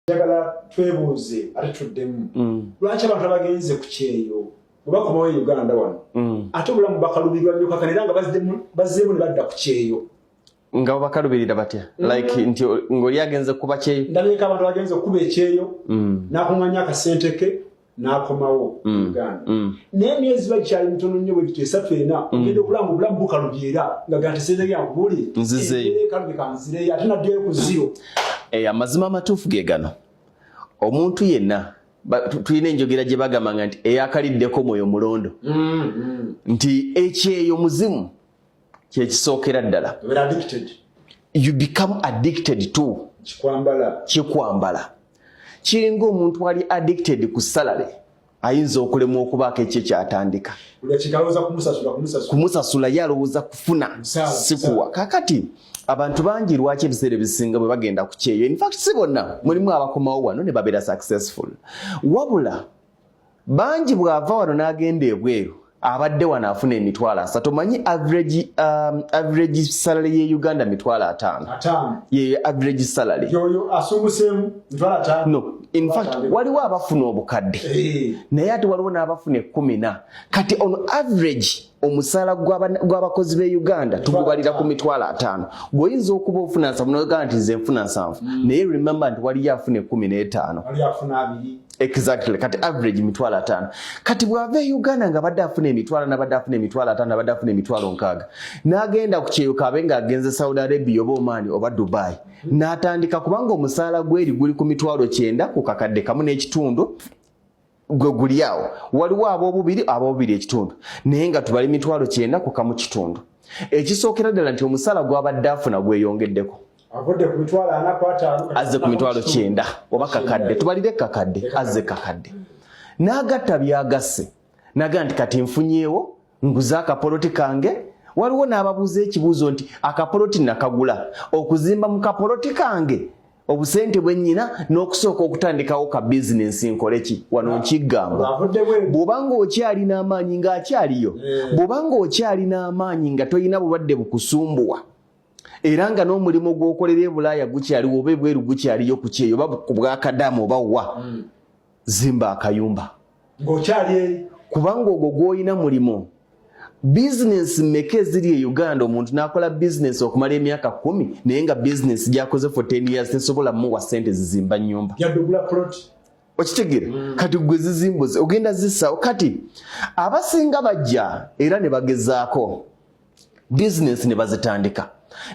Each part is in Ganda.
njagala twebuuze ate tuddemu mm. lwaki abantu abagenze ku kyeyo webakomawo e uganda wano mm. ate obulamu bakalubirwa nyo kakana era nga bazzemu ne badda ku kyeyo nga bakalubirira batya mm. like nti ngoli agenze kuba kyeyo ndabika abantu bagenze okukuba ekyeyo nakuŋanya akasente ke n'akomawo mm. uganda mm. naye emyezi bakyali mitono nnyo bwe gito esatu ena mm. ogenda okulanga obulamu bukalubyera nga ganteseezayankubuli nzizeekalube kanzireyo ate naddeyo ku ziro eh, amazima amatuufu ge gano omuntu yenna tulina enjogera gye bagamanga nti eyakaliddeko mwoyo mulondo mm, mm. nti ekyeyo muzimu kyekisookera ddala you become addicted to kyekwambala kiringa omuntu ali addicted ku salary ayinza okulemwa okubaako ekyo kyatandika kumusasula ye alowooza kufuna sikuwa kakati abantu bangi lwaki ebiseera ebisinga bwe bagenda ku kyeyo infact si bonna mulimu abakomawo wano ne babeera successful wabula bangi bw'ava wano n'agenda ebweru abadde wano afuna emitwalo asatu omanyi average, um, average salary ye uganda mitwalo ataano ye average salary no in fact waliwo abafuna obukadde eh. naye ate waliwo n'abafuna ekkumina kati on average omusaala gw'abakozi b'e uganda tugubalira ku mitwalo ataano gweoyinza okuba ofuna nsavu nogamba nti nze nfuna nsanvu mm. naye remember nti waliyo afuna ekumi n'etaano exactly kati average mitwalo ataano kati bwava e uganda nga badde afuna emitwalo nabadde afuna emitwalo ataano nabadde afuna emitwalo nkaaga n'agenda ku kyeyo kaabe nga agenze saudi arabia oba omaani oba dubai mm. n'atandika kubanga omusaala gweri guli ku mitwalo kyenda ku kakadde kamu n'ekitundu gwe guli awo waliwo ab'obubiri ab'obubiri ekitundu naye nga tubali mitwalo kyenda ku kamu kitundu ekisookera ddala nti omusaala gwabadde afuna gweyongeddeko azze ku mitwalo kyenda oba kakadde tubalire kakadde azze kakadde n'agatta byagasse naga nti kati nfunyeewo nguze akapoloti kange waliwo n'ababuuza ekibuuzo nti akapoloti nakagula okuzimba mu kapoloti kange obusente bwe nnyina n'okusooka okutandikawo ka bizinensi nkoleki wano nkiggamba bw'oba ng'okyalina amaanyi ng'akyaliyo eh. bw'oba ng'okyalina amaanyi nga tolina bulwadde bukusumbuwa era nga n'omulimu gw'okolera e bulaaya gukyaliwo oba ebweru gukyaliyo ku kyeyo oba ku bwakadaama oba wa hmm. zimba akayumba ng'okyali eri kubanga ogwo gw'olina mulimu bizinensi mmeka eziri e uganda omuntu n'akola bizinensi okumala emyaka kumi naye nga bizinensi gyakoze for ten years tesobola muwa sente zizimba nyumba yadugula ploti okitegere mm. kati gwe zizimbuzi ogenda zisawo kati abasinga bajja era ne bagezaako bizinensi ne bazitandika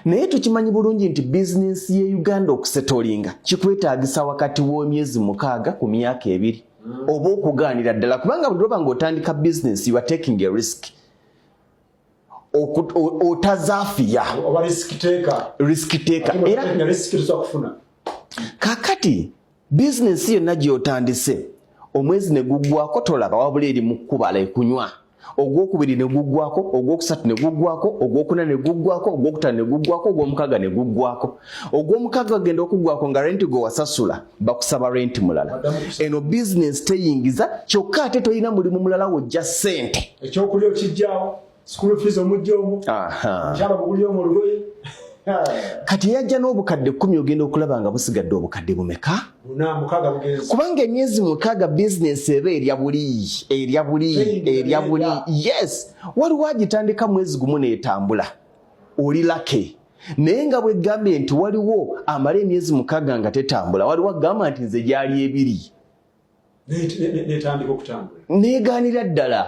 naye tukimanyi bulungi nti bizinensi ye uganda okusetolinga kikwetagisa wakati w'emyezi mukaaga ku myaka ebiri mm. oba okugaanira ddala kubanga buli lwoba nga otandika bizinensi you are taking a risk otazafiya risk taker era kakati bizinensi yonna gy'otandise omwezi ne guggwako tolaba wabula eri mu kkubala ekunywa ogwokubiri ne guggwako ogwokusatu ne guggwako ogwokuna ne guggwako ogwokutano ne guggwako ogwomukaga ne guggwako ogwomukaga agenda okuggwako nga renti gwe wasasula bakusaba renti mulala eno bizinensi teyingiza kyokka ate tolina mulimu mulala wojja ssente ekyokulya okijjawo school fees omujja omu kyalo buguli omu olugoye kati yajja n'obukadde kumi ogenda okulaba nga busigadde obukadde bumeka kubanga emyezi mukaaga bizinesi eba erya buli erya buli erya buli yes waliwo agitandika mwezi gumu neetambula oli lake naye nga bwegambye nti waliwo amala emyezi mukaaga nga tetambula waliwo agamba nti nze gyali ebiri netandika okutambula negaanira ddala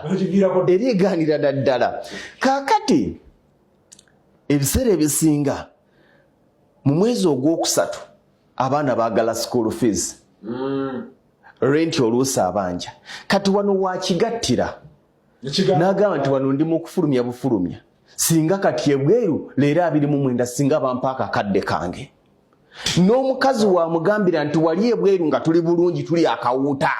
era egaanira daddala kaakati ebiseera ebisinga mu mwezi ogwokusatu abaana baagala school fees mm. renti oluusi abanja kati wano wakigattira nagamba nti wano ndi mukufulumya bufulumya singa kati ebweru leero abiri mu mwenda singa bampaako akadde kange n'omukazi wamugambira nti wali ebweru nga tuli bulungi tuli akawuuta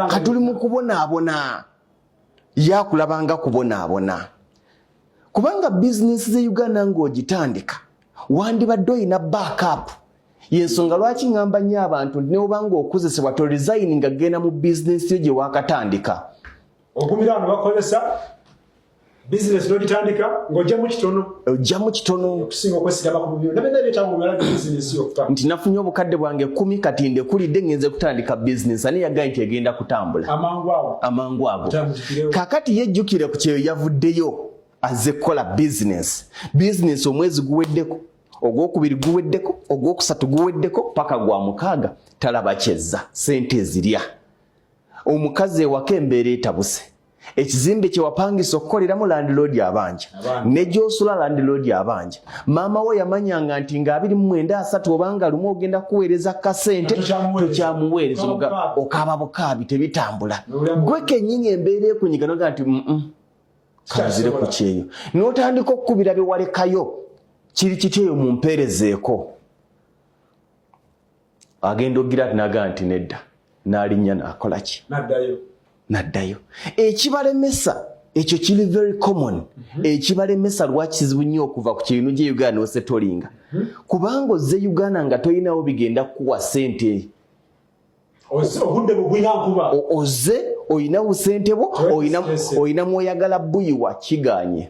ka tuli mu kubonaabona yakulabanga kubonaabona kubanga bizinesi ze uganda ng'ogitandika wandibadde olina backup yensonga lwaki ŋŋamba nnyo abantu nti newobanga okozesebwa to resign nga genda mu bizinesi yo gye wakatandika okumira ano bakozesa bizinesi nogitandika ng'ojjamu kitono ojjamu kitono okusinga okwesigama ku bubiro nabena ebyetamumala bizinesi okuta nti nafunye obukadde bwange kumi kati ndekulidde ngenze kutandika bizinesi ani yagaye nti egenda kutambula amangu ago amangu ago kakati yejjukire ku kyeyo yavuddeyo azze kukola bizinesi bizinesi omwezi guweddeko ogwokubiri guweddeko ogwokusatu guweddeko paka gwa mukaaga talaba kyezza sente ezirya omukazi ewako embeera etabuse ekizimbe kyewapangisa okukoleramu landiloodi abanja ne gyosula landiloodi abanja maama wo yamanyanga nti nga abiri mu mwenda asatu obanga lumu ogenda kuweereza kasente tokyamuweereza okaaba bukaabi tebitambula gwe kenyini embeera ekunyiganoga nti kanzire ku kyeyo notandika okukubira byewalekayo kiri kityeyo mumpeerezeeko agenda ogira naga nti nedda nalinnya nakola ki naddayo ekibalemesa ekyo kiri very common mhm. ekibalemesa lwaki kizibu nnyo okuva ku kirinu gye uganda nosetolinga mhm. kubanga ozze uganda nga tolinawo bigenda kukuwa sente ozze olina busente bwo olina mwoyagala buyiwa kiganye